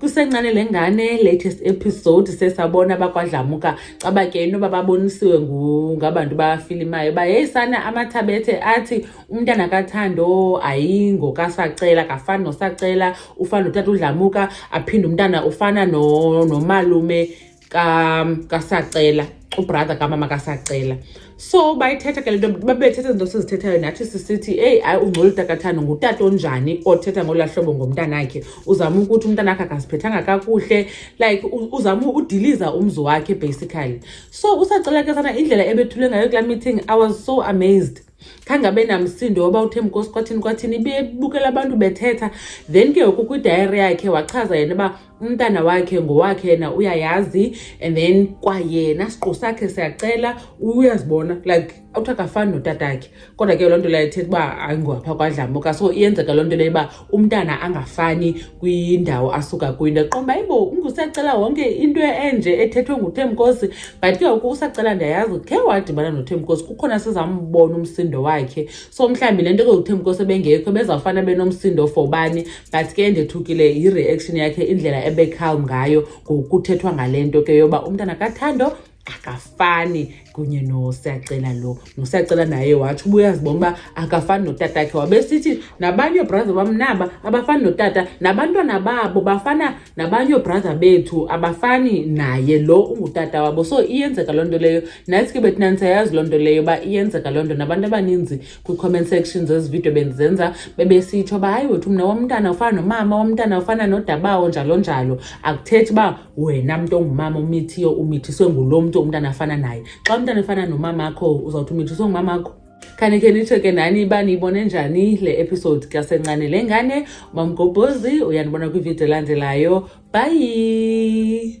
kusencane le ngane latest episode sesabona bakwadlamuka caba ke inoba babonisiwe ngabantu bafilimayo uba yeyi sana amathabethe athi umntana kathando ayingo kasacela kafani nosacela ufana notata udlamuka aphinde umntana ufana nomalume no kasacela ubrother kamama kasacela so bayithetha ke le nto babethetha izinto sizithethayo nathi sisithi eyi hayi ungcola utakathane ngutata onjani othetha ngolaa hlobo ngomntanakhe uzama ukuthi umntanakhe akaziphethanga kakuhle like uzama udiliza umzi wakhe basically so usacela ke sana indlela ebethule ngayo kulaa meeting i was so amazed khange abe namsindo woba uthe mkosi kwathini kwathini ibebukela abantu bethetha then ke ngoku kwidayari yakhe wachaza yena uba umntana wakhe ngowakhe yena uyayazi and then kwayena siqu sakhe siyacela uyazibona like awuthi akafani notatakhe kodwa ke loo nto leyo ithetha uba ayingowapha kwadlamuka so iyenzeka loo nto leyo uba umntana angafani kwindawo asuka kuyo ndaqomba ibo ungusacela wonke into enje ethethwe nguthemkosi but ke uku usacela ndiyayazi khe wadibana nothemkosi kukhona sizambona umsindo wakhe so mhlawumbi le nto ke uthemkosi ebengekho bezawufana benomsindo for bani but ke ndethukile yi-reaction yakhe indlela ebecalm ngayo ngokuthethwa ngale nto ke yoba umntana kathando akafani kunye nosiyacela lo nosiyacela naye watsho uba uyazibona uba akafani notata khe wabesithi nabanye oobhraza bam naba abafani notata nabantwana babo bafana nabanye oobhraza bethu abafani naye lo ungutata wabo so iyenzeka loo nto leyo nathi ke bethi nandisayazi loo nto leyo uba iyenzeka loo nto nabantu abaninzi kwi-comment section zezi vidiyo bendizenza bebesitsho uba hayi wethu mna womntana ufana nomama womntana ufana nodabawo njalo njalo akuthethi uba wena mntu ongumama umithiyo umithiswe ngulo mntu umntana afana naye xa umntana efana nomama akho uzawuthi umithiswe ngumama akho khanike nitsho ke nani uba niyibone njani le episode kasencane le ngane mamgobhozi uyanibona kwividiyo elandelayo bhayi